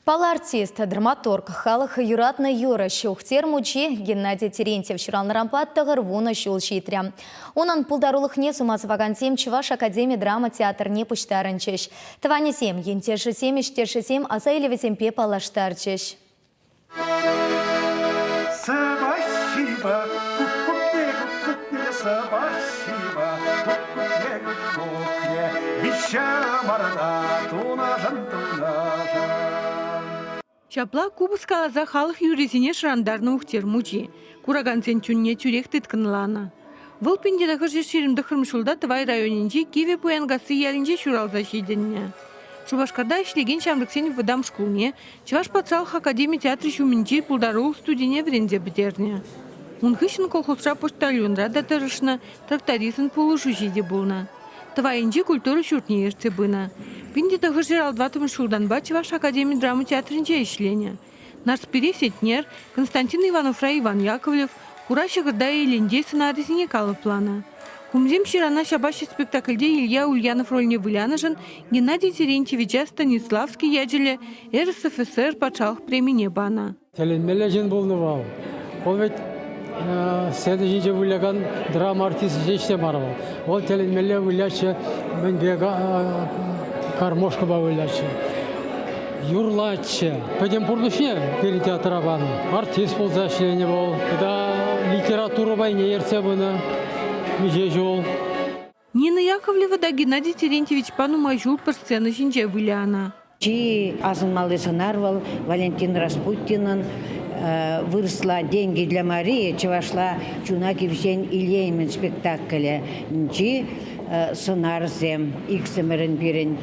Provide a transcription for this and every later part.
Палартист, драматург, халӑх юратнӑ юрӑ Ҫухтер мучи Геннадий Терентьев ҫуралнӑранпа тӑхӑр вунӑ ҫул ҫитрӗ. Унӑн пултарулӑхне сума сӑвакансем Чӑваш академи драма театрне пуҫтарӑнчӗҫ. Тӑванӗсем, ентешӗсем, ӗҫтешӗсем аса илӗвӗсемпе паллаштарчӗҫ. Спасибо, кукне, кукне, спасибо, кукне, кукне, виҫе мӑрна тунашӑн, тунашӑн. Ҫапла купӑс каласа халӑх юррисене шӑрантарнӑ Ухтер мучи куракансен чунне тӳрех тыткӑнланӑ. Вӑл пин тӑхӑрҫӗ ҫирӗм тӑхрӑм ҫулта Тӑвай районӗнчи Кивӗ Пуянкасси ялӗнче ҫуралса ҫитӗннӗ. Шупашкарта ӗҫлекен ҫамрӑксен вӑтам шкулне Чӑваш патшалӑх академи театрӗ ҫумӗнчи пултарулӑх студине вӗренсе пӗтернӗ. Ун хыҫҫӑн колхозра почтальонра та тӑрӑшнӑ, трактористӑн пулӑшуҫи те пулнӑ. Тӑвайӗнчи культура ҫуртне ертсе пынӑ. Пин те тӑхӑршер ал тӑваттӑмӗш ҫултанпа Чӑваш академи драма театрӗнче ӗҫленӗ. Нарспири Сетнер, Константин Ивановра Иван Яковлев, Хура ҫӑкӑрта Элентей сӑнарӗсене калӑпланӑ. Хумсем ҫырана ҫапаҫҫӗ спектакльте Илья Ульянов рольне вылянӑшӑн Геннадий Терентьевича Станиславский ячӗллӗ РСФСР патшалӑх премине панӑ. Тӗлӗнмелле ҫын пулнӑ вӑл. Ку вӗт сцена ҫинче вылякан драма артисчӗ ҫеҫ те мар вӑл. Вӑл тӗлӗнмелле выляҫҫӗ, мӗнпе гармошкӑпа выляҫҫӗ. Юрлатчӗ. Пӗтӗм пурнӑҫне пирӗн театра панӑ. Артист пулса ӗҫленӗ вӑл. Тата литература пайне ертсе пынӑ миҫе ҫул. Нина Яковлева та Геннадий Терентьевичпа нумай ҫул пӗр сцена ҫинче вылянӑ. Чи асӑнмалли сӑнар вӑл Валентин Распутинӑн Вырӑсла деньги для Марии чӑвашла чуна тивҫен илеймӗн спектаклӗ-нчи сӑнарсем, иксӗмӗрӗн пирӗн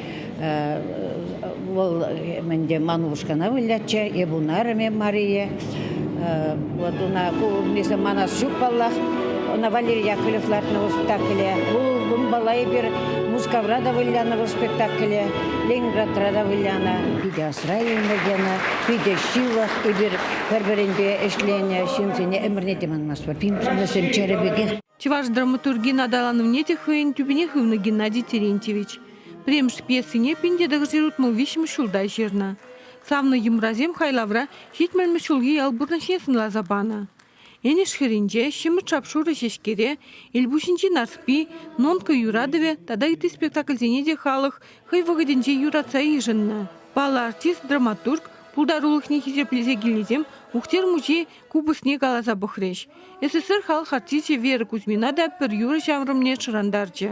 вӑл мӗнте Манушкана вылятчӗ, эп унарӑмӗ Мария. Вот уна ку манас ҫук паллах. Ӑна Валерий Яковлев лартнӑ вӑл спектакле. Ку унпала эпир Мускавра та вылянӑ вӑл спектакле, Ленинградра та вылянӑ, питӗ асра илнӗ тенӗ, питӗ ҫывӑх. Эпир пӗр-пӗринпе ӗҫленӗ ҫынсене ӗмӗрне те манмастпӑр. Вӗсем чӗрӗ пекех. Чӑваш драматургин аталанӑвне те хӑйӗн тӳпине хывнӑ Геннадий Терентьевич. Пӗрремӗш пьесине пин тӗлӗксӗр утма виҫҫӗмӗш ҫулта ҫырнӑ. Савнӑ йӑмрасем хайлавра ҫитмӗлмӗш ҫулхи ял пурнӑҫне сӑнласа панӑ. Энӗш хӗрринче, ҫӗмӗрт шап-шурӑ ҫеҫкере, Элпуҫӗнчи Нарспи, Нонка юратӑвӗ тата ытти спектакльсене те халӑх хӑй вӑхӑтӗнче юратса йышӑннӑ. Паллӑ артист, драматург, пултарулӑхне хисеплесе килнисем Ухтер мучи купӑсне каласа пӑхрӗҫ. СССР халӑх артисчӗ Вера Кузьмина та пӗр юрӑ ҫаврӑмне шӑрантарчӗ.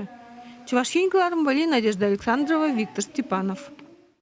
Чӑваш Ен кӑларӑм вӑйли Надежда Александрова, Виктор Степанов.